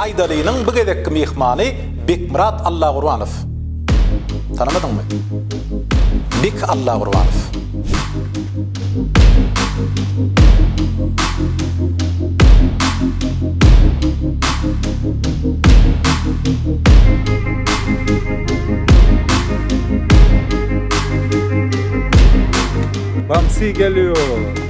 Aýdalynyň bu gezekki myhmany Bekmyrat Allagurbanow. Tanamadyňmy? Bek Allagurbanow. Bamsy gelýär.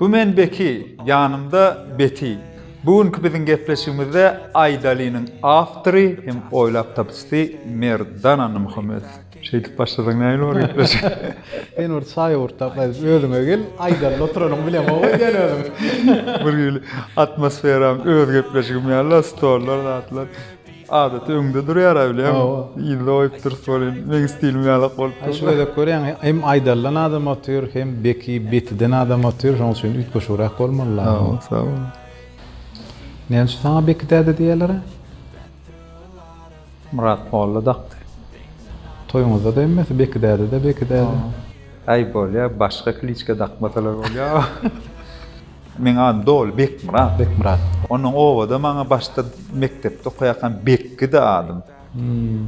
Bu men Beki, ýanymda Beti. Bu günki biziň gepleşigimizde Aýdalynyň awtory hem oýlap tapyjysy Merdana Nurmuhammedow. Şeýdip başlasaň nähili bolar gepleşik? Sen bir çaý owurtap gaýdyp özüňe gel, Aýdalyda oturanyňy bilemok we sen özüň. Bir hili atmosferam öz gepleşigim ýaly-la, stollar, zatlar. Adaty öňde durýar-a bilýän. Hawa. Yzda goýup durus welin, meň stilim ýalak bolup durdy. Şu gezek görýäň, hem aýdaldan adam otyr, hem beki betiden adam otyr, şonuň üçin üýtgeşigräk bolmaly ýaly. Sag bol, sag bol. Näme üçin saňa beki däde diýýärler-ä? Myrat molla dakdy. Toýuňyzda-da hemmesi beki däde-de, beki däde. Aý bolýar, başga kliçka dakmasalar bolýar. Meň adym doly Bekmyrat. Bekmyrat. Ondan obada maňa başda mekdepde okaýarkam Bekgidi adym.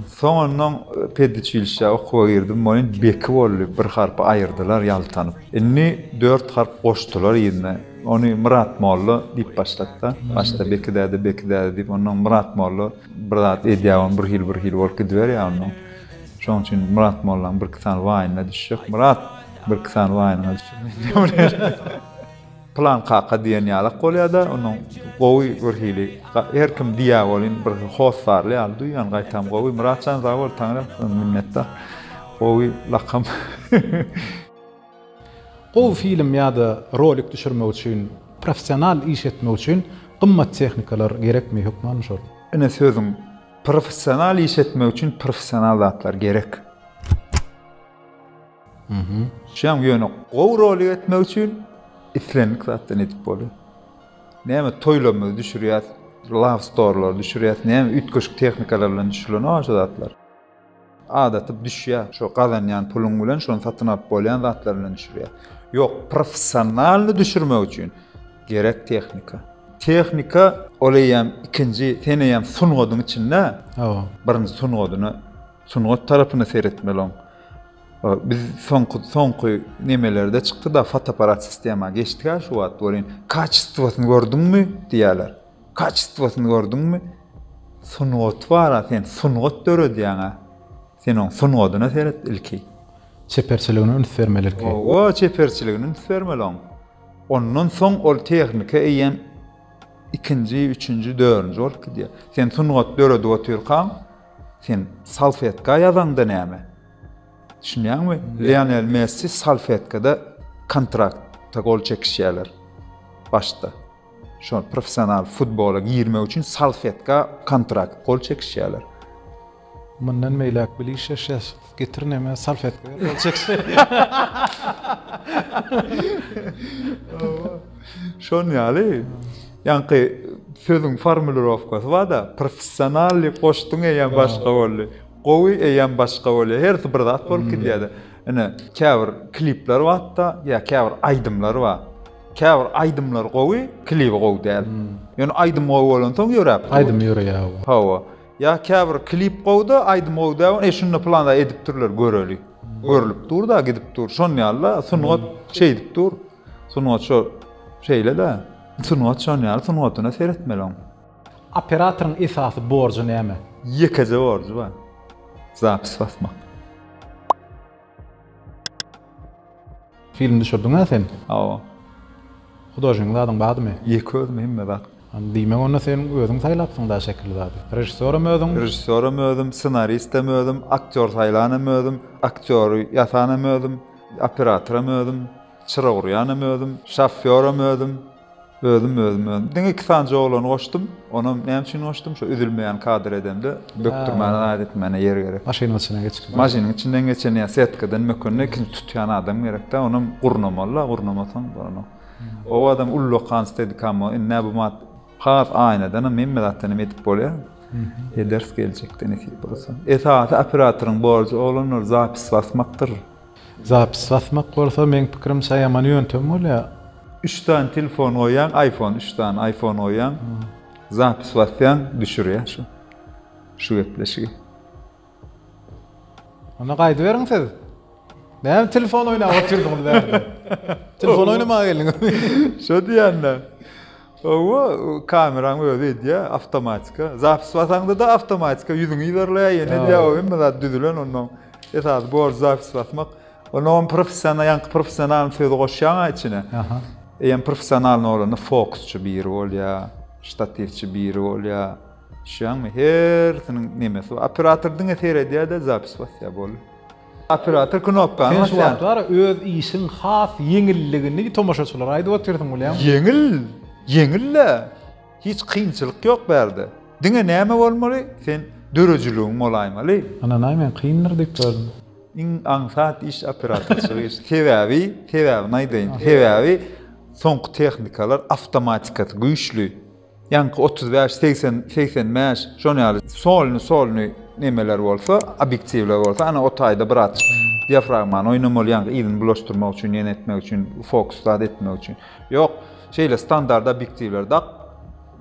Soňundan pediçilişä okuwa girdim, welin Beki boldy, bir harpy aýyrdylar ýaltanyp. Indi dört harp goşdular yzyna. Ony Myrat molla diýip başlapda. Başda Beki däde, Beki däde diýip, ondan Myrat molla bir zat edýär, ony bir hili, bir hili bolup gidiberýär ondan. Şonuň üçin Myrat mollaň birki sany waýyna düşjek. Myrat, birki sany waýynyňa düşjek. Pylan kaka diýen ýalak bolýar-da, onuň gowy bir hili, her kim diýýär welin, bir hossarly ýaly duýýan, gaýtam gowy. Myratjan sag bol, taňra minnetdar. Gowy lakam. Gowy film ýa-da rolik düşürmek üçin, professional iş etmek üçin gymmat tehnikalar gerekmi, hökman şol? Ine sözüň, professional iş etmek üçin professional zatlar gerek. Şuýam ýöne gowy rolik etmek üçin islendik zatdan edip bolýar. Näme toýlarymyzy düşürýäs, love story-lary düşürýäs, näme üýtgeşik tehnikalar bilen düşürilenok-a şu zatlar. Adaty düşýär, şo gazanýan puluň bilen şony satyn alyp bolýan zatlar bilen düşürýär. Ýok, professionalny düşürmek üçin gerek tehnika. Tehnika ol eýýäm ikinji, sen eýýäm sungatyň içinde, birinji sungatyny Sungat tarapyna seretmeli oň. Biz soňky soňky nemelerde çykdy-da fotoapparat sistema geçdik-ä şu wagt welin kaçestwosyny gördüňmi diýýärler. Kaçestwosyny gördüňmi? Sungaty bar-a sen sungat döredýäň-ä. Sen oň sungatyna seret ilki. Çeperçiligine üns bermeli ilki. Owa, çeperçiligine üns bermeli oň. Ondan soň ol tehnika eýýäm ikinji, üçünji, dördünji bolup gidýär. Sen sungat döredip otyrkaň, Sen salfetka ýazaňda näme? Düşünýäňmi? Lionel Messi salfetkada kontrakta gol çekişýärler başda. Şo professional futbola girmek üçin salfetka kontrakt gol çekişýärler. Mundan beýläk bilişeşes. Getir neme salfetka ýa-da çek. Şon ýaly. Ýaňky sözüň formulirowkasy bar-da, professional diýip goşduň eýýäm başga boldy. Gowy eýýäm başga bolýar. Hersi bir zat bolup gidýär-de. Ine, käbir klipler bar-da, ýa käbir aýdymlar bar. Käbir aýdymlar gowy, klibi gowy däl. Ýöne aýdym gowy bolansoň ýöräp dur. Aýdym ýöreýär. Hawa. Ýa käbir klip gowda aýdym gowy däwin eý şunda pylanda edipdirler göreli. Görlüp durda gidip dur şon ýalyda sungat şeýdip dur. Sungat şo şeýlede. Sungat şon ýaly sungatyna seretmeli oň. Operatoryň esasy borjy näme? Ýekeje borjy bar. Zapis basmak. Film düşürdiňä sen? Hawa. Hudožnik zadyň bardymy? Ýeke özüm hemme zat. Diýmek onda sen özüň saýlapsyň da şekili zady. Režissýoram özüň? Režissýoram özüm, ssenaristem özüm, aktýor saýlanam özüm, aktýory ýasanam özüm, operatoram özüm, çyra gurýanam özüm, şofýoram özüm. Özüm özüm özüm diňe iki sany joglany goşdum onam näme üçin goşdum şo üzülmeýän kadr edemde bökdürmäne zaýat etmäne ýer gerek. Maşynyň içinden geçip. Maşynyň içinden geçen ýa setkadan mökende ikinji tutýan adam gerekdä onam gurnamalyda gurnamasaň bolanok. O adam ullakan stedikamo indi nä bu mat has aýnadanam hemme zatdanam edip bolýa. Ederis geljekde nesip bolsa. Esasy operatoryň borjy oglanlar zapis basmakdyr. Zapis basmak bolsa meň pikirimçe ýaman ýöntem bolýar. Üç sany telefon goýýaň aýfon üç sany aýfon goýýaň zapis basýaň düşürýär şu şu gepleşigi. Onda gaýdyberiň siz. Näme telefon oýnap otyrdyňyz bärde. Telefon oýnamaga geldiňizmi. Şo diýýän-dä. Hawa, kameraň özi edýä, awtomatika. Zapis basaňda-da awtomatika ýüzüňi ýerleýä, ýene edýä, o hemme zat düzülen onnoň. Esasy borjy zapis basmak. Onda oň professional, ýaňky professionalyň sözi goşýaň-a içine. Aha. Eýýäm professionalyň bolanda fokusçy biri bolýa, ştatiwçi biri bolýa. Düşýäňmi? Hersiniň nemesi bar. Operator diňe seredýä-de zapis basýa, boldy. Operator knopkany Sen şu wagtlar öz işiň has ýeňilligini tomaşaçylara aýdyp otyrsyň bilýäňmi? Ýeňil, ýeňil-le. Hiç kynçylyk ýok bärde. Diňe näme bolmaly, sen döredijiligiň bolaýmaly. Ynanaý men kyndyr diýip gördüm. Iň aňsat iş operatorçylyk işi. Sebäbi, sebäbini aýdaýyn. Sebäbi soňky tehnikalar awtomatikasy güýçli. Ýaňky otuz bäş, segsen, segsen bäş şon ýaly solny, solny nemeler bolsa, obýektiwler bolsa, ana o taýda bir aç diafragmany oýnamaly ýaňky yzyny bulaşdyrmak üçin, ýene etmek üçin, fokus zat etmek üçin. Ýok, şeýle standart obýektiwler dak,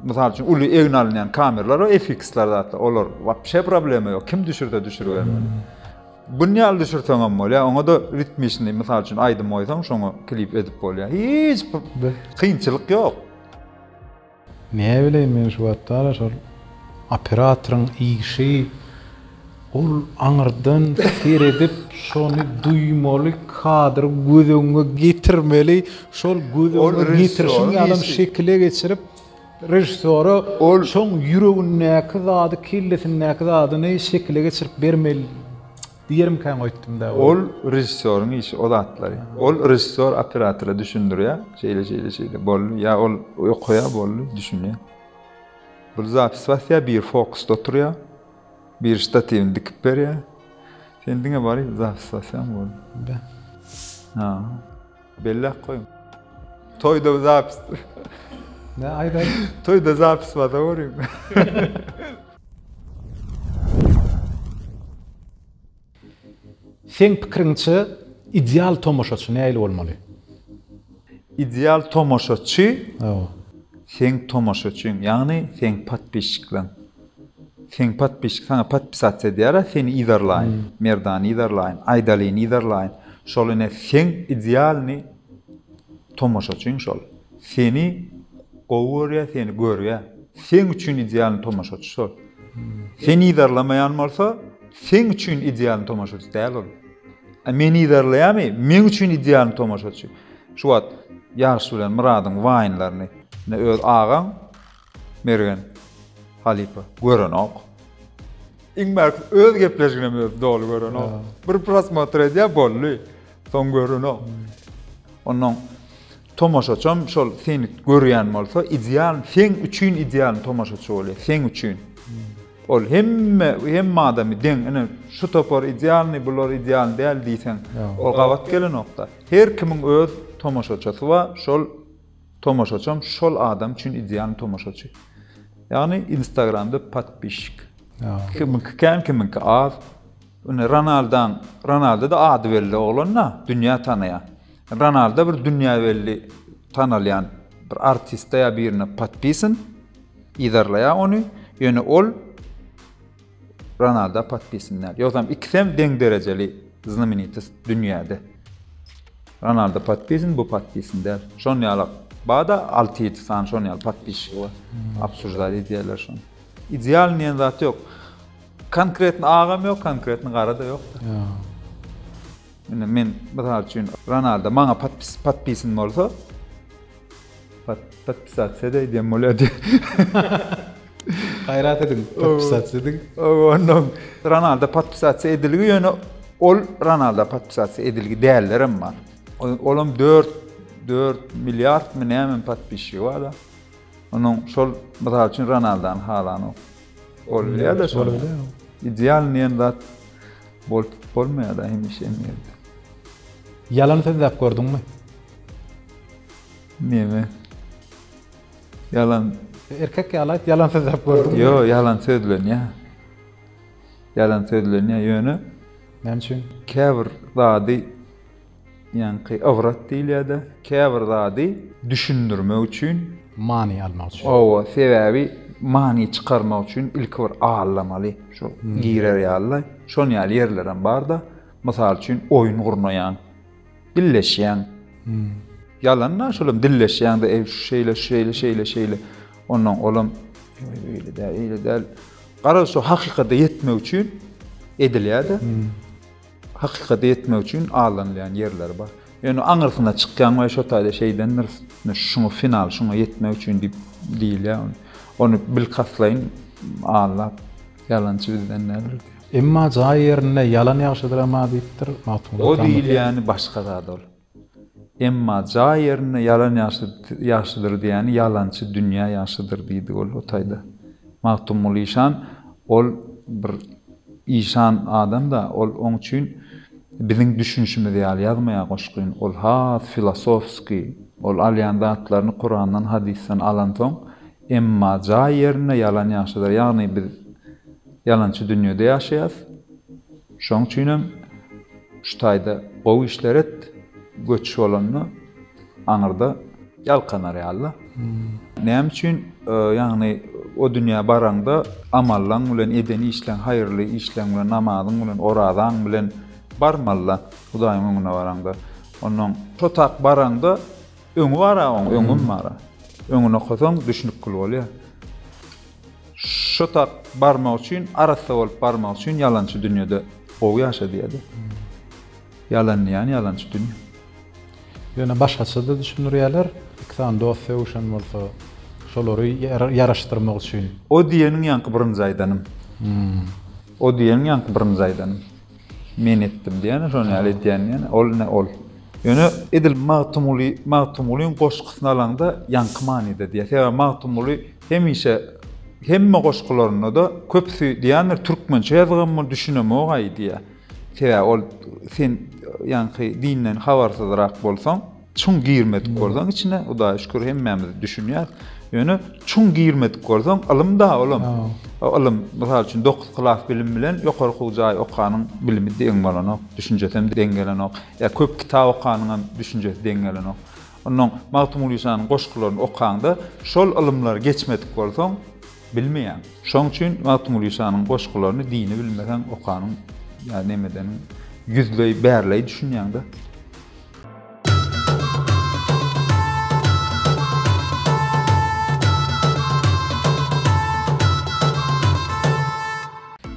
mysal üçin uly egin alynýan kameralar we FX-ler zatlar, olar wapşe problema ýok, kim düşürse düşüribermeli. Gün ýaly düşürseň hem bolýar, oňa-da ritmiçni, mysal üçin aýdym goýsaň, şoňa klip edip bolýar. Hiç kynçylyk ýok. Näbileýin men şu batdara şol operatoryň işi ol aňyrdan seredip şony duýmaly kadry göz öňüňe getirmeli şol göz öňüňe getirişiň ýalam şekile geçirip režissýora şoň ýüregindäki zady kellesindäki zadyny şekile geçirip bermeli. Diýerimkäň öýtdüm-dä ony. Ol režissýoryň işi o zatlary. Ol režissýor operatora düşündirýär, şeýle, şeýle, şeýle, boldy. Ýa ol okaýar, boldy, düşünýär. Bir zapis basýar, biri fokusda oturýar, biri ştatiwini dikip berýär. Sen diňe baryp zapis basýaň, boldy. Be. Ha. Belläp goýuň. Toýda zapis. Ne aýdaýyn? Toýda zapis bada görüň. Seň pikiriňçe ideal tomaşaçy nähili bolmaly? Ideal tomaşaçy? Hawa. Seň tomaşaçyň, ýagny seň podpisçiklaň. Seň podpisçik saňa podpisat edýärä seni yzarlaýyn merdany yzarlaýyn aýdalyny yzarlaýyn şol ine seň idealny tomaşaçyň şol seni gowy görýä seni görýä seň üçin idealny tomaşaçy şol seni yzarlamaýan bolsa seň üçin idealny tomaşaçy däl ol a meni yzarlaýamy meň üçin idealny tomaşaçy şu wagt ýaryş bilen myradyň waýnlaryny öz agaň Mergen, halypa, görenok. Iň bärkisi öz gepleşiginem özi doly görenok. Bir prosmotr edýär, boldy. Soň görenok. Ondan tomaşaçam şol seni görýän bolsa, ideal, sen üçin ideal tomaşaçy bolýar, sen üçin. Ol hemme, hemme adamy deň, ine şu topar idealny, bular ideal däl diýseň, ol gabat gelenokda. Her kimiň öz tomaşaçysy bar, şol Tomaşaçam şol adam üçin idealny tomaşaçy. Ýagny Instagramda podpişik. Kimiňki kän, kimiňki az. Ine Ronaldan, Ronaldo-da ady belli oglan-da, dünýä tanaýar. Ronaldo bir dünýä belli tanalýan bir artiste ýa birine podpisin, yzarlaýar ony. Ýöne ol Ronaldo podpisin däl. Ýogsam ikisem deň derejeli znamenitost dünýäde. Ronaldo podpisin bu podpisin däl. Şon ýalak. Bada 6-7 sany şon ýaly podpisçi bar. Absurdar edýärler şony. Ideal diýen zat ýok. Konkretni agam ýok, konkretni gara da ýok. Indi men mysal üçin Ronaldo maňa podpis podpisin bolsa pod podpisasiýa da edýän bolýardy. Gaýrat ediň, podpisasiýa ediň. Onda Ronaldo podpisasiýa edilgi ýöne ol Ronaldo podpisasiýa edilgi däller hem bar. Olam 4 4 milliard mı näme podpisçi bar da. Onuň şol mysal üçin Ronaldony halanok. Ol bilýärde şol bilýär. Ideal diýen zat bolup bolmaýarda hemişe hem ýerde. Ýalan sözläp gördüňmi? Neme? Ýalan. Erkek ýaly aýt, ýalan sözläp gördüňmi? Ýok, ýalan sözlenýär. Ýalan sözlenýär, ýöne. Näme üçin? Käbir zady Ýaňky ybrat diýilýär-de, käbir zady düşündirmek üçin. Many almak üçin. Hawa, sebäbi many çykarmak üçin ilki bir aldamaly, şu girer ýaly-da. Şon ýaly ýerlerem bar-da. Mysal üçin, oýun gurnaýaň, dilleşýäň. Ýalan-da, şolam dilleşýäň-de, eý, şu şeýle, şu şeýle, şeýle, şeýle. Onnoň olam, eý, beýle däl, eýle däl. Garaz, şu hakykata ýetmek üçin edilýär-de. Hakykaty etmek üçin aldanylýan ýerler bar. Ýöne aňyrsyna çykýaň we şo taýda şeýdendir, şuňa final, şuňa ýetmek üçin diýip diýilýär. Ony bilkastlaýyn aldap, ýalançy bizden däldir. Emma jaý ýerinde ýalan ýagşydyr emma diýipdir Magtymguly Atamyz. O diýilýäni başga zat ol. Emma jaý ýerinde ýalan ýagşydyr diýýäni ýalançy dünýä ýagşydyr diýdi ol o taýda. Magtymguly işan ol bir işan adam-da, ol oň üçin biziň düşünişimiz ýaly ýazmaýar goşgyny, ol has filosofskiý, ol alýan zatlaryny Kurandan, hadysdan alansoň, Emma jaý ýerinde ýalan ýagşydyr, ýagny biz Ýalançy dünýede ýaşaýas. Şoň üçinem şu taýda gowy işler et, göçüş bolanda aňyrda. Ýalkanar ýaly-da. Näme üçin, ýagny o dünýä baraňda amallaň bilen, eden işleň, haýyrly işleň bilen, namazyň bilen, orazaň bilen barmaly-da Hudaýyň öňüne baraňda. Onnoň şo tak baraňda öňi bar-a oň, öňüm bar-a. Öňüni okasaň düşünip kül bolýar. Şotap barmak üçin, arassa bolup barmak üçin ýalançy dünýede gowy ýaşa diýýärdi. Ýalan diýýän ýalançy dünýe. Ýöne başgaça-da düşündirýärler. Iki sany dost sögüşen bolsa, şolary ýaraşdyrmak üçin. O diýeniň ýaňky birinji aýdanym. O diýeniň ýaňky birinji aýdanym. Men etdim diýýän, şony ýaly edýän diýýän. Ol ne ol. Ýöne edil Magtymguly, Magtymgulyň goşgusyny alaňda ýaňky manyda diýýär. Sebäbi Magtymguly Hemişe hemme goşgularynda-da köpüsi diýýändir, türkmençe ýazgammy, düşünemog-aý diýýär. Sebäbi ol sen ýaňky dinden habarsyzrak bolsaň, çuň girmedik bolsaň içine, Hudaýa şükür hemmämiz düşünýäs. Ýöne çuň girmedik bolsaň, ylym-da olam. O ylym, mysal üçin, dokuz klas bilim bilen ýokary okuw jaý okanyň bilimi deň bolanok, düşünjesem deň gelenok. Ýa köp kitap okanyňam düşünjesi deň gelenok. Onnoň Magtymguly Janyň goşgularyny okaňda, şol ylymlary geçmedik bolsaň, bilmeýäň. Şoň üçin Magtymguly Janyň goşgularyny dini bilmeseň okanyň ýa neme edeniň ýüzleý, bärleý düşünýäň-de.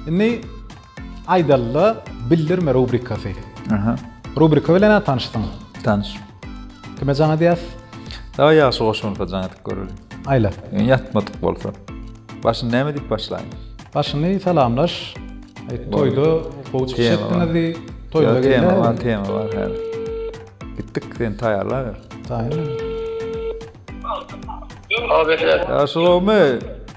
Indi Aýdalda bildirme rubrikasy. Aha. Rubrika bilen ha tanyşdyň. Tanyş. Kime jaň edýäs? Dawa ýagşy goşgulka jaň edip göreli. Aýla. Ýatmadyk bolsa. Başyny näme diýip başlaýyn? Başyny salamlaş. Aýt toýda gowy çykyş etdiňizdi. Toýda gelme. Tema bar, tema bar häzir. Gitdik sen taýýarla ber. Taýýar. Abi sen. Ýagşy gowmy?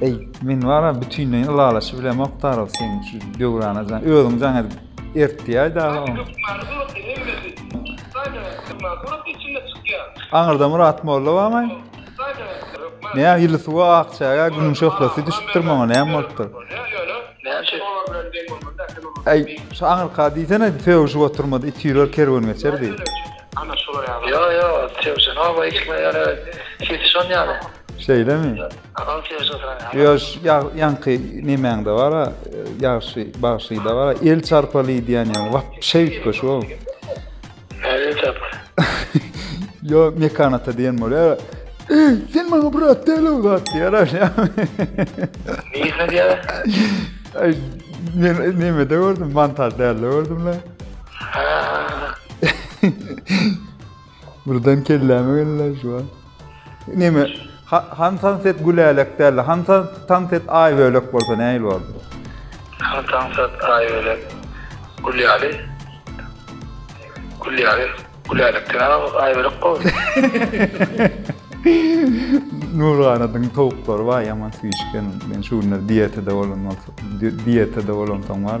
Eý, men wara bütinleýin ylalaşyp bilemok Tarol seň şu döwrana jan. Özüň jaň edip ertdiýäý dagy oň. Aňyrda Myrat molla barmy? Näme ýyly suwa ak çägä günüň şöhlesi düşüpdir maňa näme bolupdyr? Eý, şu aňyrka diýsene sögüşip oturmady it ýürer kerwen geçer diýip. Ýo, ýo, sögüşen oba eşitmän ýöne sesi şon ýaly. Şeýlemi? Alty ýaş oturan. Ýoş, ýaňky nemäňde bar-a, ýagşy, bagşyda bar-a, el çarpaly diýen ýaňy, wapşe üýtgeşik ol. El çarpaly. Ýo, mekanata diýen bolýar. Ey, sen maňa brat däl ol zat diýär. Nirde diýär? Ay, men nemede gördüm, montaj dälde gördüm la. Birden kelläme geldi şu an. Neme? Hansan set gülälek däldi. Hansan tan set ay bölek bolsa näil boldu? Hansan set ay bölek gülýäli. Gülýäli. Gülälekden ay bölek boldu. Nurganadyň towuklary bar ýaman süýşgen. Men şu günler diýetede bolan bolsa, diýetede bolan soň bar.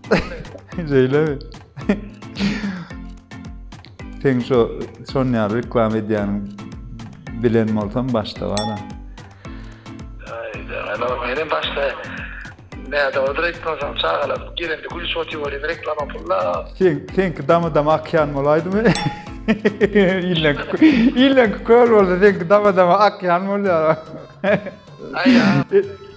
Şeýle mi? Sen şu son ýa reklama edýän bilen bolsam başda bar. Ana meni başda näde odur etmesem çagalar gelende gülüş otyr bolýar reklama pulla. Sen senki dama dama akýan bolaýdymy? İllen illen köl bolsa senki dama dama akýan bolýar. Aýa.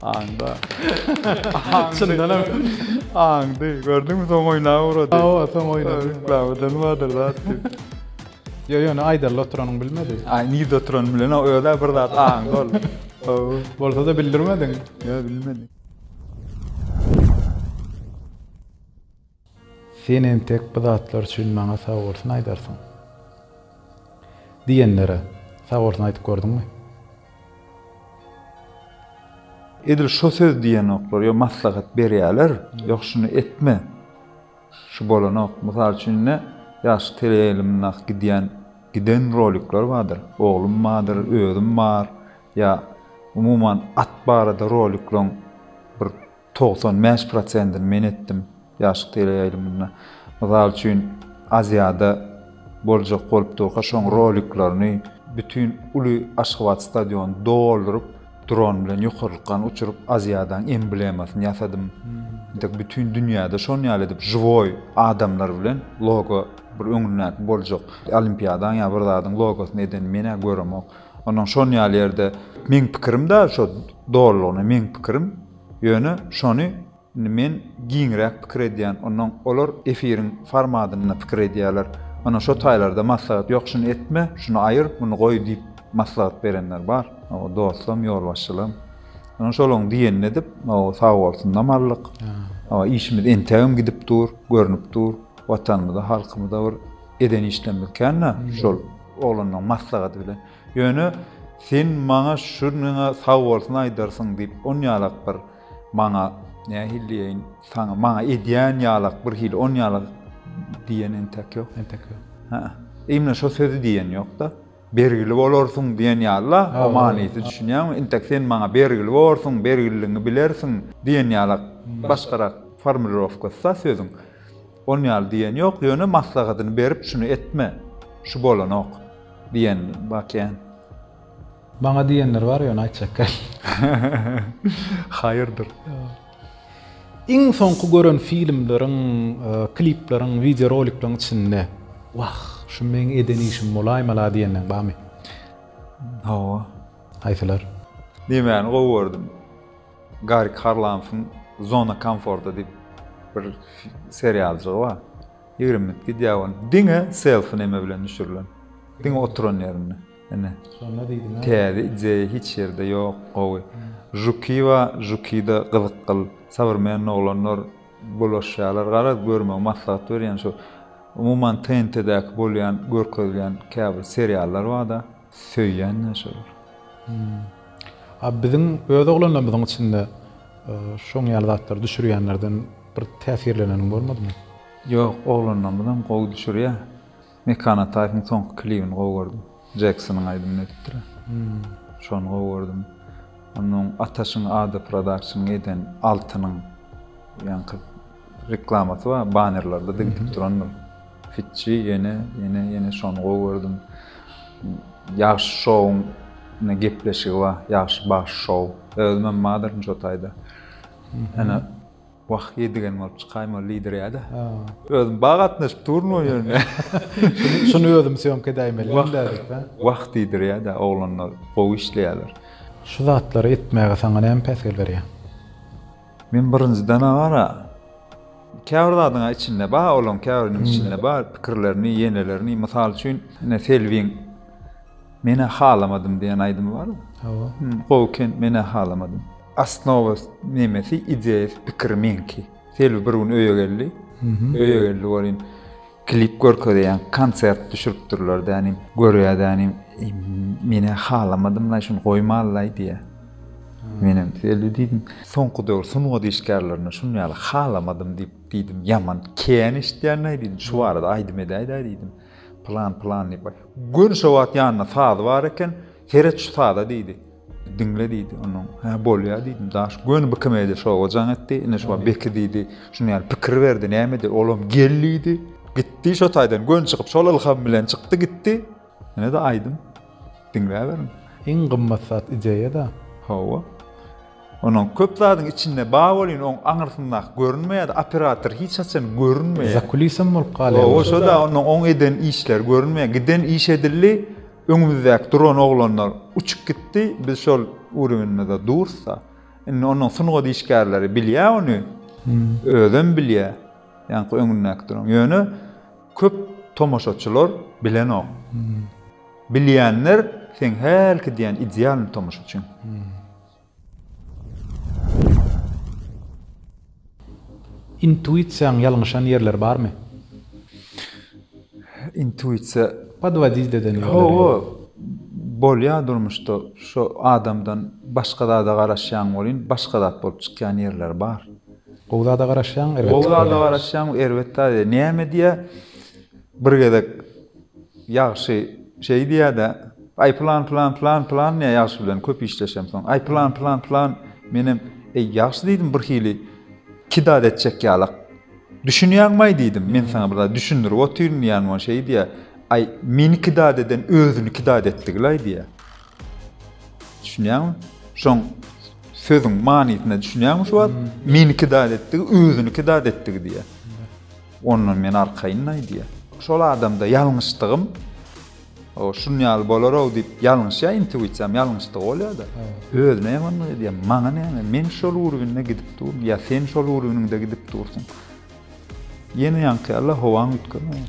Aňda. Çyndanam aňdy. Gördüňmi soň oýna urady. Hawa, soň oýna. Reklamadan bardyr zat. Yo yo, ne aýdarly oturanyny bilmedi. Aý, nirde oturanyny bilen, özä bir zat aňda ol. Hawa. Bolsa-da bildirmediň. Yo, bilmedik. Sen entek bu zatlar üçin maňa sagbolsun aýdarsyň. Diýenlere sagbolsun aýdyp gördüňmi? Edil şo söz diýenoklar, ýa maslahat berýäler, ýok şuny etme, şu bolanok. Mysal üçin indi ýaşky teleýaýlymyndaky gidýän, giden rolikler bardyr. Oglum bardyr, özüm bar, ýa umuman at barada rolikleň bir Togsan bäş prosentini men etdim ýaşlyk teleýaýlymynda. Mysal üçin, Aziada boljak bolup durka şoň roliklerini bütin uly Aşgabat stadionyny dolduryp, dron bilen ýokarlykgan uçuryp Aziadaň emblemasyny ýasadym. Entek bütin dünýäde şon ýaly edip žiwoý adamlar bilen logo bir öňündäki boljak olimpiadaň ýa bir zadyň logosyny eden men-ä göremok. Onnoň şon ýaly ýerde meň pikirim-dä şo dolulygyna meň pikirim. Ýöne şony indi men giňräk pikir edýän, onnoň olar efiriň formadynda pikir edýäler. Ana şo taýlarda maslahat ýok şuny etme, şuny aýyr, muny goý diýip maslahat berenler bar. Hawa dostlam, ýolbaşçylam. Ýöne şolaň diýenini edip, hawa sag bolsunlam aldyk. Hawa işimiz entegem gidip dur, görnüp dur. Watanymyza, halkymyza bir eden işlerimiz kän-ä şol oglanlaň maslahaty bilen. Ýöne sen maňa şurnyňa sag bolsun aýdarsyň diýip, on ýalak bir maňa, nähili diýeýin, saňa, maňa edýän ýalak bir hili, on ýalak diýen entek ýok. Entek ýok. Hä-ä. Imla şo sözi diýen ýok-da. Bergili bolarsyň diýen ýaly-la, o manysy düşünýäňmi? Entek sen maňa bergili borsuň, bergililigiňi bilersiň diýen ýalak başgarak formulirowkasy-da sözüň. On ýaly diýen ýok, ýöne maslahatyny berip şuny etme, şu bolanok diýen bakýan. Maňa diýenler bar ýöne aýtjak däl. Haýyrdyr. Iň soňky gören filmleriň, klipleriň, wideo rolikleriň içinde Wah, şu meň eden işim bolaýmala diýenleň barmy? Hawa. Haýsylar? Diýmäni gowy gördüm. Garik Harlamfyň Zona komforta diýip bir serialjygy bar. Ýigrimi minut gidýär ol. Diňe selfi neme bilen düşürilen. Diňe oturan ýerinde. Ine. Şonda diýdim. Täze ideýa hiç ýerde ýok, gowy. Žuki bar, žukida gyzyk gyl. Sowrmenni oglanlar bulaşýarlar. Garaz görme maslahat berýän şu. Umuman TNT-däki bolýan, görkezilýän käbir seriallar bar-da. Söýýän näçe bor? A biziň öz oglanlarymyzyň içinde şoň ýaly zatlary düşürýänlerden bir täsirleneniň bolmadymy? Ýok, oglanlarymyzam gowy düşürýär. Mekan Ataýewiň soňky klibini gowy gördüm. Jeksonyň aýdymyny edipdir. Şony gowy gördüm. Onnoň Ataşyň ady Prodakşnyň eden Altynyň ýaňky Reklamasy bar banerlerde digitip durandyr. Fitçi ýene ýene ýene şony gowy gördüm. Ýagşy şowuň ne gepleşigi bar. Ýagşy bagşy şow. Özüm hem badyryn şo taýda. Ene Wah ýedigen bolup çykaým ol lider ýada. Özüm ba gatnaşyp duryn o ýerine. Şuny özüm syýomka edäýmeli. Wah diýdir ýada oglanlar gowy işleýäler. Şu zatlary etmäge saňa näme päsgel berýär? Men birinjiden agara käbir zadyň içinde bar olaň käbiriniň içinde bar pikirlerini ýenelerini mysal üçin ine selbiň men halamadym diýen aýdymy bar hawa gowy ken men halamadym asnowa nemesi ideýasy pikiri meňki selbi bir gün öýe geldi öýe geldi welin Klip görkezýän konsert düşüripdirler dänim görýä dänim menä halamadym laý şuny goýmaly laý diýýä. Menem öli diýdim. Soňky döwür sungat işgärlerine şuny ýaly halamadym diýip diýdim. Ýaman kän eşitýän laý diýdim. Şu barada aýdym edäýdä diýdim. Plan plan diýip. Gön şo wagt ýanynda sazy bar eken. Seret şu saza diýdi. Diňle diýdi onuň. Hä, bolýar diýdim. Daş göni bikemedi, şoga jaň etdi. Ine şowa Beki diýdi. Şuny ýaly pikir berdi. Näme eder? Olam gel diýdi. Gitdi şo taýdan göni çykyp, şol ylham bilen çykdy gitdi. Ine-de aýdym. Diňläberiň. Iň gymmat zat ideýa-da. Hawa. Onuň köp zadyň içinde bar bolýan, oň aňyrsyndaky görünmeýär-de, operator hiç haçan görünmeýär. Zakulisem bolup galýar. Hawa, şo-da onuň oň eden işleri görünmeýär. Giden iş edildi, Öňümizdäki duran oglanlar uçup gitdi, biz şol urewenimizde dursa, indi onuň sungat işgärleri bilýä ony, özem bilýä, ýaňky öňündäki duran. Ýöne köp tomaşaçylar bilenok. Bilýänler seň hälki diýen idealny tomaşaçyň. Intuisiýaň ýalňyşan ýerleri barmy? Intuisiýa. Podwodiýt eden ýoly. Hawa. Bolýar durmuşda şo adamdan başga zada garaşýaň welin başga zat bolup çykýan ýerleri bar. Gowy zada garaşýaň erbet. Gowy zada garaşýaň erbet zada näme diýýär? Bir gezek ýagşy şeý diýýär-de, Aý, pylan, pylan, pylan, pylan, men ýagşy bilen köp işleşemsoň. Aý, pylan, pylan, pylan, menem, Eý, ýagşy, diýdim, birhili iki zat etjek ýalak. Düşünýäňmi-aý, diýdim, men saňa bir zat düşündirip otyryn diýýän bolan. Şeý diýýär, Aý, meni iki zat eden özüni iki zat etdigil-aý, diýýär. Düşünýäňmi? Şoň sözüň manysyna düşünýäňmi şu wagt? Meni iki zat etdigi, özüni iki zat etdigi diýýär. Ondan men arkaýyn aýdýar. Şol adamda ýalňyşdygym, o şun ýaly bolar-ow diýip ýalňyşýar, intuisiýam ýalňyşdygy bolýar-da. Özüme ýamanlyk edýär. Maňa näme? Men şol urwinde gidip durun ýa sen şol urwiniňde gidip dursuň. Ýene ýaňky ýaly-la howaň üýtgemeýär.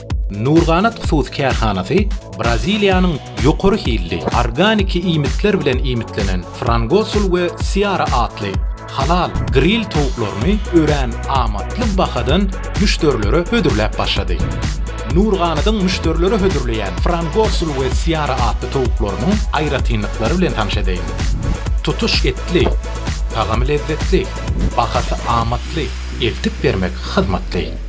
Nurganat hususy kärhanasy Braziliýanyň ýokary hilli organiki iýmitler bilen iýmitlenen Frangosul we Seara atly halal gril towuklaryny örän amatly bahadan müşderilere hödürläp başlady. Nurganatyň müşderilere hödürleýän Frangosul we Seara atly towuklarynyň aýratynlyklary bilen tanyş edeýin. Tutuş etli, tagamy lezzetli, bahasy amatly, eltip bermek hyzmatly.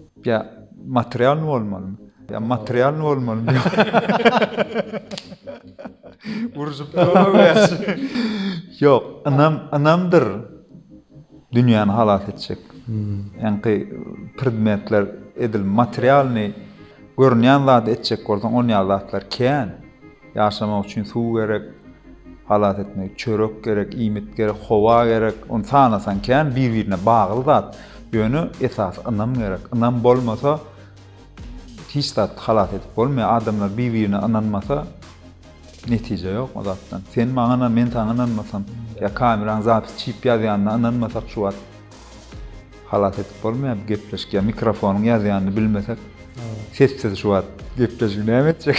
Ýa materialny bolmalymy? Ýa materialny bolmalymy? Urşup Ýok, ynam, ynamdyr dünýäni halas etjek. Ýaňky predmetler edil materialny görünýän zady etjek bolsaň, on ýaly zatlar kän. Ýaşamak üçin suw gerek, halas etmek, çörek gerek, iýmit gerek, howa gerek. Ony sanasaň kän, bir-birine bagly zat. Ýöne esasy ynam gerek. Ynam bolmasa, hiç zat halas edip bolmaýar. Adamlar bir-birine ynanmasa, netije ýok o zatdan. Sen maňa ynan, men saňa ynanmasam, ýa kameraň zapis çykyp ýazýanyna ynanmasak şu wagt. Halas edip bolmaýar gepleşik ya mikrofonyň ýazýanyny bilmesek sessiz şu wagt gepleşigi näme etjek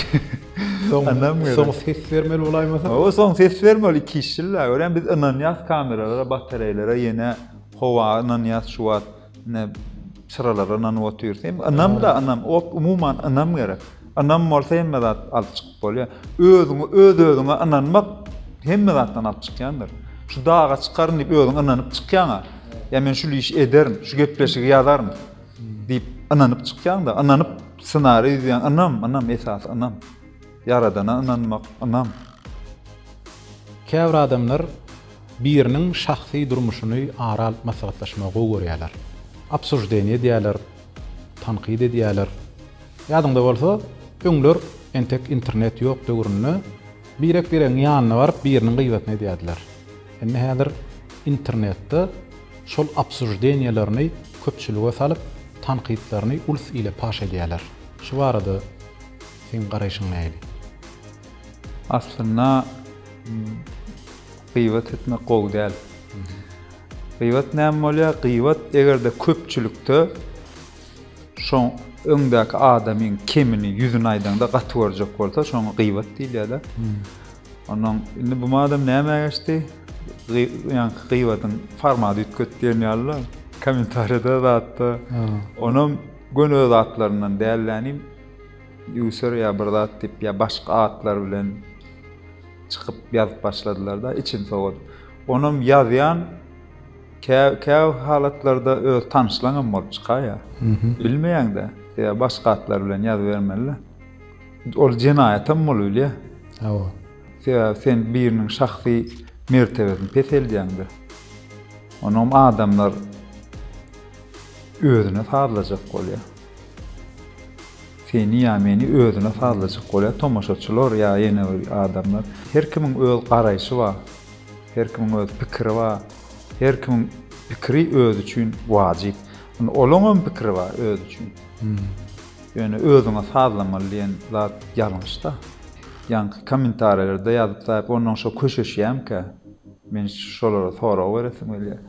soň ses bermeli bolaýmasa o soň ses bermeli iki iş ýyl görýän biz ynanýas kameralara batareýlere ýene howa ynanýas şu wagt ine çyralara ynanyp otyrys hem ynam da ynam umuman ynam gerek ynam bolsa hemme zat alyp çykyp Bolýa. Özüňi öz-özüňe ynanmak hemme zatdan alyp çykýandyr. Şu daga çykaryn diýip özüň ynanyp çykýaňa. Ýa men şul işi ederin, şu gepleşigi ýazaryn diýip ynanyp çykýaňda, ynanyp ssenariý düzýäň, ynam, ynam esasy ynam. Ýaradana ynanmak, ynam. Käbir adamlar biriniň şahsy durmuşyny ara alyp maslahatlaşmagy gowy görýärler. Obsuždeniýe diýýärler. Tankyt edýäler. Ýadyňda bolsa, öňler entek internet ýok döwründe birek-biregiň ýanyna baryp biriniň gybatyny edýärdiler. Indi häzir internetde şol obsuždeniýelerini köpçülige salyp, tankytlaryny ulus ile paş edýäler. Şu barada seň garaýşyň nähili? Aslynda, Gybat etmek gowy däl. Gybat näme bolýar? Gybat eger-de köpçülikde şoň öňdäki adamyň kemini, ýüzüni aýdaňda gaty görjek bolsa, şoňa gybat diýilýär-de. Onuň indi bu adam näme geçdi? Ýaňky gybadyň formaty üýtget diýen ýaly-la. Kommentariýada zatda onam göni zatlaryndan däl-de, user ýa bir zat diýip ýa başga atlar bilen çykyp ýazyp başladylar-da, içim sowady. Onam ýazýan, kä-kä halatlarda öz tanyşlaňam bolup çykaýýar. Bilmeýäň-dä, sebäbi başga atlar bilen ýazybermeli-dä. Ol jenaýatam bolubilýär. Hawa. Sebäbi sen biriniň şahsy mertebesini peseldýäň-dä. Onam adamlar özüne sazlajak bolýar. Seni ýa meni özüne sazlajak bolýar tomaşaçylar ýa ýene bir adamlar. Her kimiň öz garaýşy bar. Her kimiň öz pikiri bar. Her kimiň pikiri özi üçin wajyp. Indi olaňam pikiri bar özi üçin. Ýöne özüňe sazlamaly diýen zat ýalňyşda. Ýaňky kommentariýalarda ýazyp taýyp onnoň şo köşeşýämkä. Men şolara sorag beresim gelýär.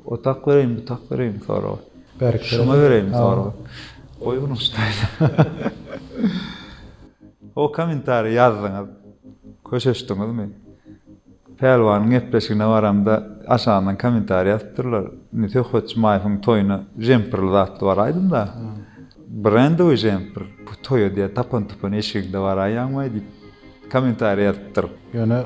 O tak bereýin bu tak bereýin soragy. Şuňa bereýin sorag. Goý bunu O kommentariýa ýazdyňyz. Köşeşdiňizmi? Pälwanyň gepleşigine baramda aşagyndan kommentariýa ýazyp durlar. Indi Söhbet Jumaýewiň toýuna jemperli zatly baraýdym da. Brendowy jemper. Bu toýa diýen tapan-tupan eşigiňde baraýýaňmaý diýip. Kommentariýa ýazypdyr. Ýöne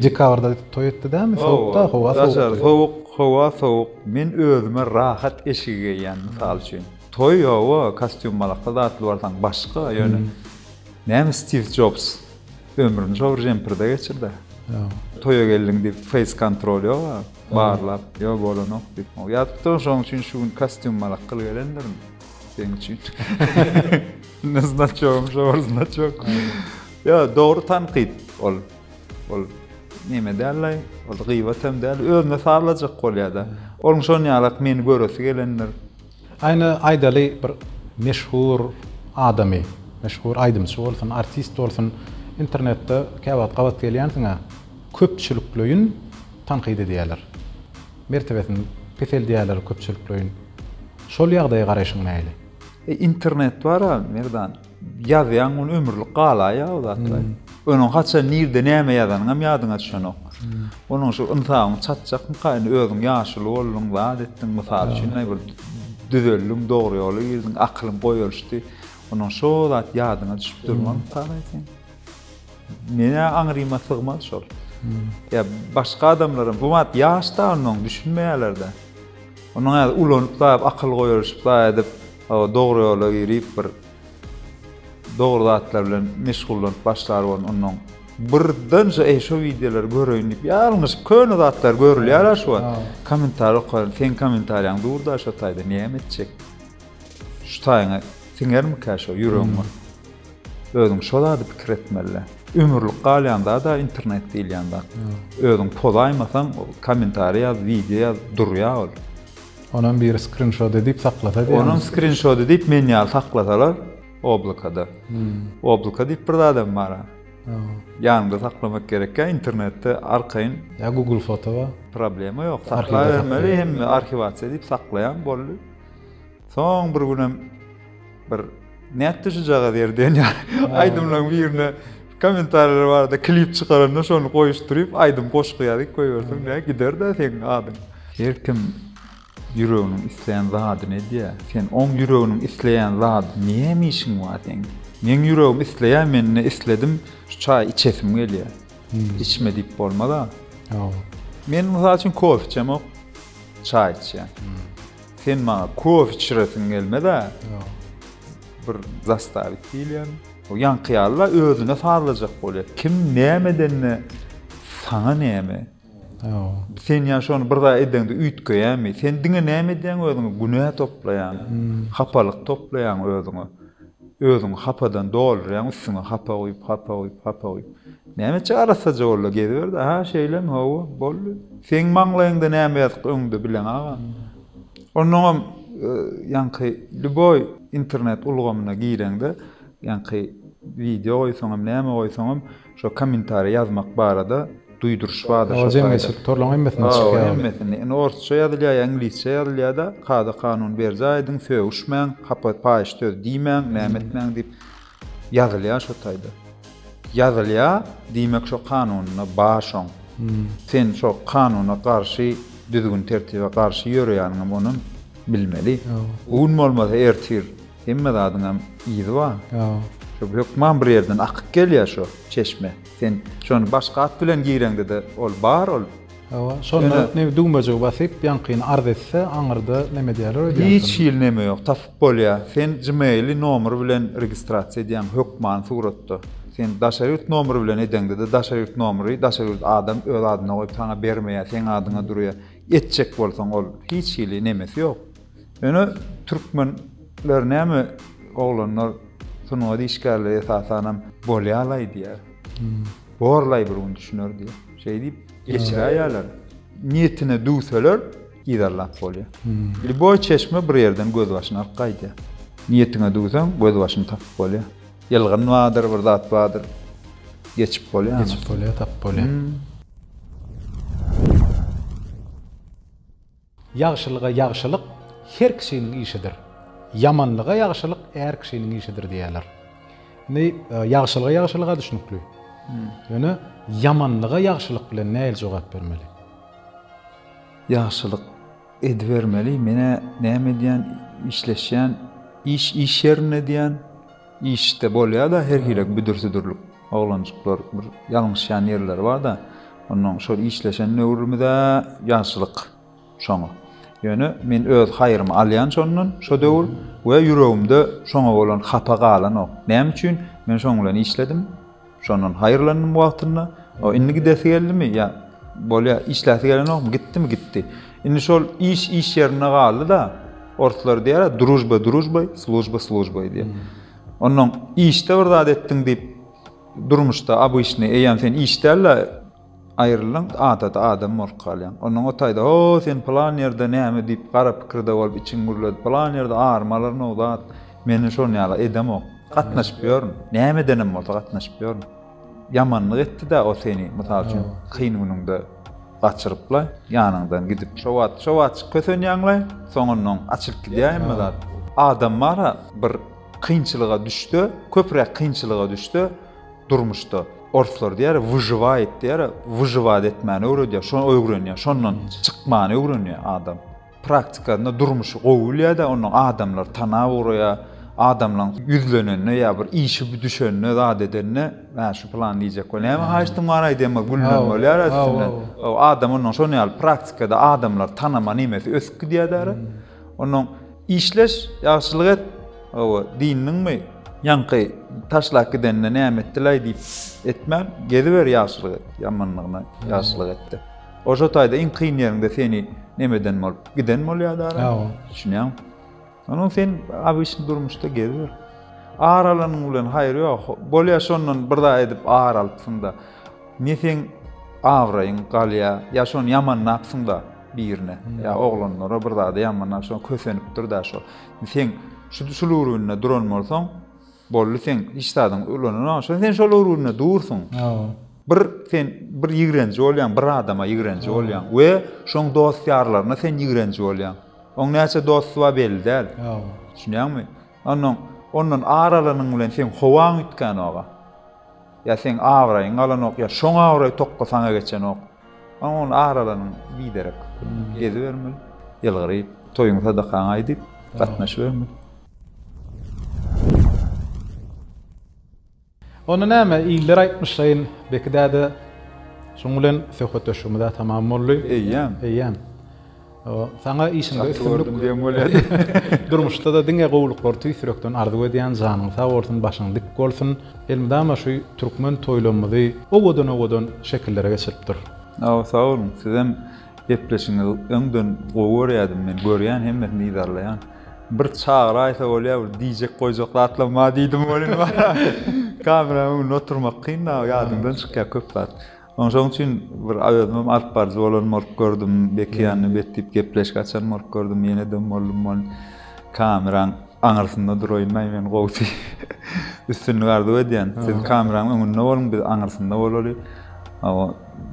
dekabrda toý etdi dämi sowukda howa sowuk. Daşary sowuk howa sowuk men özüme rahat eşigi geýýän mysal üçin. Toý hawa kostýum malakda zatly barsaň başga ýöne näme Stiw Jobs ömrüni şo bir jemperde geçirdi. Toýa geldiň diýip feýs kontrol ýoga barlap ýok bolanok diýip ýazypdyr şoň üçin şu gün kostýum malak gyl gelendirin. Seň üçin. Ne znaçogym şu bar znaçok. Yo, dogry tankyt ol. Ol neme däl-le, ol gyýbat hem däl, özüne sazlajak bolýar-da. Onuň şon ýalak meni göresi gelendir. Aýna aýdaly bir meşhur adamy, meşhur aýdymçy bolsun, artist bolsun, internetde käwagt gabat gelýänsiň-ä, köpçülikleýin tankyt edýärler. Mertebesini peseldýärler köpçülikleýin. Şol ýagdaýa garaýşyň nähili? E internet bar-a, Merdan. Ýazýaň, ony ömürlik galaýýa o zatlar. Onuň haçan, nirde, näme ýazanyňam ýadyňa düşenok. Onuň şu ynsabyň çatjakmyka, indi özüň ýaşuly bolduň, zat etdiň, mysal üçin, aý, bir düzeldiň, dogry ýola girdiň, akylyň goýalyşdy. Onuň şo zat ýadyňa düşüp durmazmyka, aý, seň? Menä aňryma sygmaz şol. Ýa başga adamlaram, bu wagt ýaş da ondan düşünmeýärler-de. Onuň häzir ulanyp zaýap akyl goýaryşyp zaý edip, dogry ýola girip bir dogry zatlar bilen meşgullanyp başlar bolan ondan birden şu eý şu wideolary göreýin diýip ýalňyşyp köne zatlar görülýär-ä şu wagt. Kommentariýa okaýan, seň kommentariýaň dur-da şu taýda näme etjek? Şu taýyňa siňermikä şo ýüregiňe? Özüň şo zady pikir etmelidä. Ömürlik galýan zada internet diýilýän zat. Özüň pozaýmasaň, kommentariý ýaz, wideo ýaz, durýar ol. Onam biri skrinşot edip saklasa diýýäňizmi? Onam skrinşot edip men ýaly saklasalar oblakada. Oblaka diýip bir zadam bar-a. Ýanyňda saklamak gerekkä internetde arkaýyn. Ýa google foto bar. Problema ýok. Saklabermeli hemme arhiwasiýa diýip saklaýaň boldy. Soň bir günem bir nätdi şujagaz ýer diýen aýdymlaryň birine kommentariýalar bardy, klip çykaranda şony goýuşdyryp, aýdym goşgy ýazyp goýberseň näme gider-de seniň adyň. Her kim ýüreginiň isleýän zadyny edýär. Sen oň ýüreginiň isleýän zady näme işiň bar seň? Meň ýüregim isleýär, men indi isledim, şu çaý içesim gelýär. Içme diýip bolmaz-a. Ýok. Men mysal üçin kofe içemok. Çaý içýän. Sen maňa kofe içiresiň gelmez-ä? Ýok. Bir zastavit diýilýän. O ýaňky ýaly-la özüne sazlajak bolýar. Kim näme edende saňa näme? Ýok. Sen ýa şony bir zat edeňde üýtgeýämi? Sen diňe näme edýäň özüňe? Günä toplaýaň. Hapalyk toplaýaň özüňe. Özüňi hapadan doldurýaň üstüňe hapa guýup hapa guýup hapa guýup. Nämeçe arassaja boldy geziberdi aha şeýlemi hawa boldy. Seň maňlaýyňda näme ýazyk öňde bileň agam. Onnoňam ýaňky lýuboý internet ulgamyna gireňde ýaňky wideo goýsaňam näme goýsaňam Şo kommentariý ýazmak barada duýduryş bardy şo taýda. Ol jemgyýetçilik torlaryň hemmesinde çykýar. Hawa, hemmesinde. Indi orsça ýazylýar ýa iňlisçe ýazylýar-da, kada kanun berjaý ediň, sögüşmäň, hapa paýyş söz diýmäň, näme etmäň diýip ýazylýar şo taýda. Ýazylýar, diýmek şo kanunda bar şoň. Sen şo kanuna garşy, düzgün-tertibe garşy ýöreýäniňem onuň bilmeli. Bu gün bolmasa ertir. Hemme zadyňam yzy bar. Şu hökman bir ýerden akyp gelýär şu çeşme. Sen şony başga at bilen gireňde-de ol bar ol. Hawa, şonda ne düwmejigi basyp, ýaňkyny arz etse, aňyrda neme diýerler öýdýänsoň. Hiç hili neme ýok, tapyp bolýar. Sen gmail-i nomer bilen registrasiýa edýäň, hökman suratda. Sen daşary ýurt nomeri bilen edeňde-de daşary ýurt nomeri daşary ýurt adam öz adyna goýup saňa bermeýär, seň adyňa durýar. Etjek bolsaň ol hiç hili nemesi ýok. Ýöne türkmenler näme oglanlar sungat işgärleri esasanam bolýalaý diýýär. Borlaý bir gün düşüner diýýär. Şeý diýip geçiräýýärler. Niýetine düwseler yzarlap bolýar. Lýuboý çeşme bir ýerden gözbaşyny alyp gaýdýar. Niýetiňe düwseň gözbaşyny tapyp bolýar. Ýylgyn bardyr, bir zat bardyr. Geçip bolýar. Geçip bolýar, tapyp bolýar. Ýagşylyga ýagşylyk her kişiniň işidir, ýamanlyga ýagşylyk är kişiniň işidir diýýärler. Indi ýagşylyga ýagşylyga düşnükli. Ýöne ýamanlyga ýagşylyk bilen nähili jogap bermeli? Ýagşylyk edibermeli. Men-ä näme edýän, işleşýän, iş iş ýerinde edýän. Işde bolýa-da her hili büdür-südürlik. Oglanjyklar bir ýalňyşýan ýerleri bar-da, onnoň şol işleşen döwrümiz-ä ýaşlyk şoňa. Ýöne men öz haýrymy alýan şondan şo döwür we ýüregimde şoňa bolan hapa galanok. Näme üçin? Men şoň bilen işledim. Şondan haýyrlandym wagtynda. O indi gidesi geldimi? Ýa, bolýar, işläsi gelenokmy? Gitdimi? Gitdi. Indi şol iş iş ýerinde galdy-da, orslar diýýär-ä, družba družbay, služba službay diýip. Onnoň işde bir zat etdiň diýip, durmuşda obyçnyý, eýýäm sen iş däl-de, Aýrylaň adaty adam bolup galýaň. Onnoň o taýda, Ho, sen pylan ýerde näme diýip, gara pikirde bolup, içiň gürledi. Pylan ýerde arymy alaryn o zat. Men-de şonuň ýaly edemok. Gatnaşyp ýörün. Näme edenem bolsa gatnaşyp ýörün. Ýamanlyk etdi-dä o seni, mysal üçin, kyn günüňde gaçyryp-la, ýanyňdan gidip. Şo wagt, şo wagt kösenýäň-le, soňundan açylyp gidýär hemme zat. Adam bar-a, bir kynçylyga düşse, köpräk kynçylyga düşse, durmuşda orslar diýer wyžywaýt diýer wyžywaýt etmäni öwredýär şony öwrenýär şondan çykmany öwrenýär adam praktikasynda durmuşy gowy bilýärde ondan adamlar tana ugraýar adamlaň ýüzlenende ýa bir işi düşende zat edende mä şu plan diýjek we näme haýyştyň bar aýdýanma gülmän bolýar üstünden adam ondan şony ýaly praktikada adamlar tanama nemesi ösüp gidýär däri Onuň Işleş, ýagşylyk et, hawa, diýindiňmi? Ýaňky taşlap gidenine näme etdilaý diýip etmän, geziber, ýagşylyk et, ýamanlygyna ýagşylyk et-de. Oža taýda iň kyn ýeriňde seni nemeden bolup, giden bolýa-da ara. Hawa. Düşünýäňmi? Onuň sen abyşny durmuşda geziber. Ar alanyň bilen haýry ýok. Bolýa şondan bir zat edip ar alypsyň-da. Ne seň abraýyň galýa, ýa şony ýamanlapsyň-da birine, ýa oglanlara bir zada ýamanlap şo kösenipdir-dä şo. Sen şul ugrunda duran bolsaň, boldy sen hiç zadyň ulananok, şo sen şol ugrunda dursuň. Bir sen bir ýigrenji bolýaň, bir adama ýigrenji bolýaň we şoň dost-ýarlaryna sen ýigrenji bolýaň. Oň näçe dosty bar belli däl. Düşünýäňmi? Onnoň, ondan ar alanyň bilen seň howaň üýtgänok-a. Ýa seň abraýyň galanok, ýa şoň abraý tokga saňa geçenok. Oň, on ar alanyň biderek gezibermeli. Ýylgyryp, toýuň sadakaň aýdyp, gatnaşybermeli. Onda näme, iller aýtmyşlaýyn, Beki däde. Şunuň bilen söhbetdeşligimiz-ä tamam boldy. Eýýäm. Eýýäm. Saňa işiňde üstünlik. Çaty gördüm diýen bolýady. Durmuşda-da diňe gowulyklary tüýs ýürekden arzuw edýän, janyň sag bolsun, başyň dik bolsun. Elmydama şu türkmen toýlarymyzy owadan-owadan şekillere geçirip dur. Hawa, sag boluň. Sizem gepleşigiňizi öňden gowy görýädim men. Görýän, hemmesini yzarlaýan. Bir çagyraýsa bolýa bir diýjek goýjak zatlam bar diýdim welin kameraň öňünde oturmak kyn da ýadyňdan çykýa köp zat. Oň şoň üçin bir özümem alyp baryjy bolan bolup gördüm Beki ýanyna bet diýip gepleşik açan bolup gördüm ýene dem boldum welin kameraň aňyrsynda duraýynlaý men gowusy üstünlik arzuw edýän siz kameraň öňünde boluň biz aňyrsynda bolaly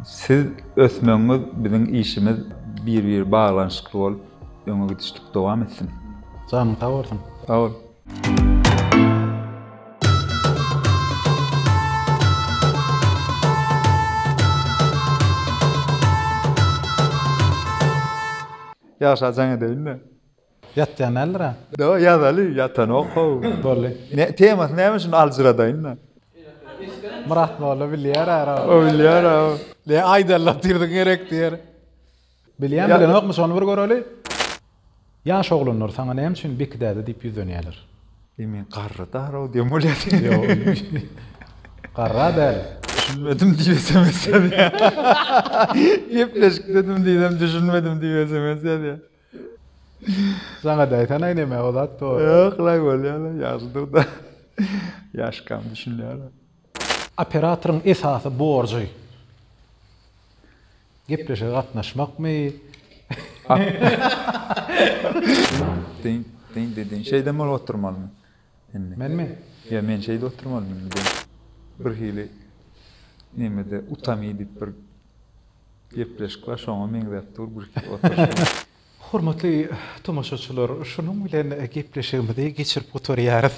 siz ösmegiňiz biziň işimiz bir bir baglanyşykly bolup Öňe gidişlik dowam etsin. Janyň sag bolsun. Sag bol. Ýaşa jaň edeýinmi? Ýatýan däldir-ä? Do, ýazaly, ýatanok how. Boldy. Ne, temasy näme şuny aljyradaýyn-da. Myrat molla bilýär-ä, Rauf. O bilýär-ä. Le aýdalla tirdiň gerek diýer. Bilýän bilenokmy şony bir göreli. Ýaş oglanlar saňa näme üçin Beki däde diýip ýüzlenýäler. Eý men garry daraw diýen bolýar. Ýok. Garra däl. Düşünmedim diýip sms ýazýar. Gepleşik dedim diýsem düşünmedim diýip sms ýazýar. Saňada aýtanaý neme o zat dogry. Ýok la bolýar la ýagşydyr da. Ýaşkam düşünýär. Operatoryň esasy borjy. Gepleşige gatnaşmakmy? Dyn, dyn, dyn, dyn. Şeýdem bolup oturmalymy? Indi. Menmi? Ýa men şeýdip oturmalymy indi? Bir hili nämede utami diýip bir gepleşik bar, şoňa meňzäp dur bir hili oturyş. Hormatly tomaşaçylar, şunuň bilen gepleşigimizi geçirip gutarýarys.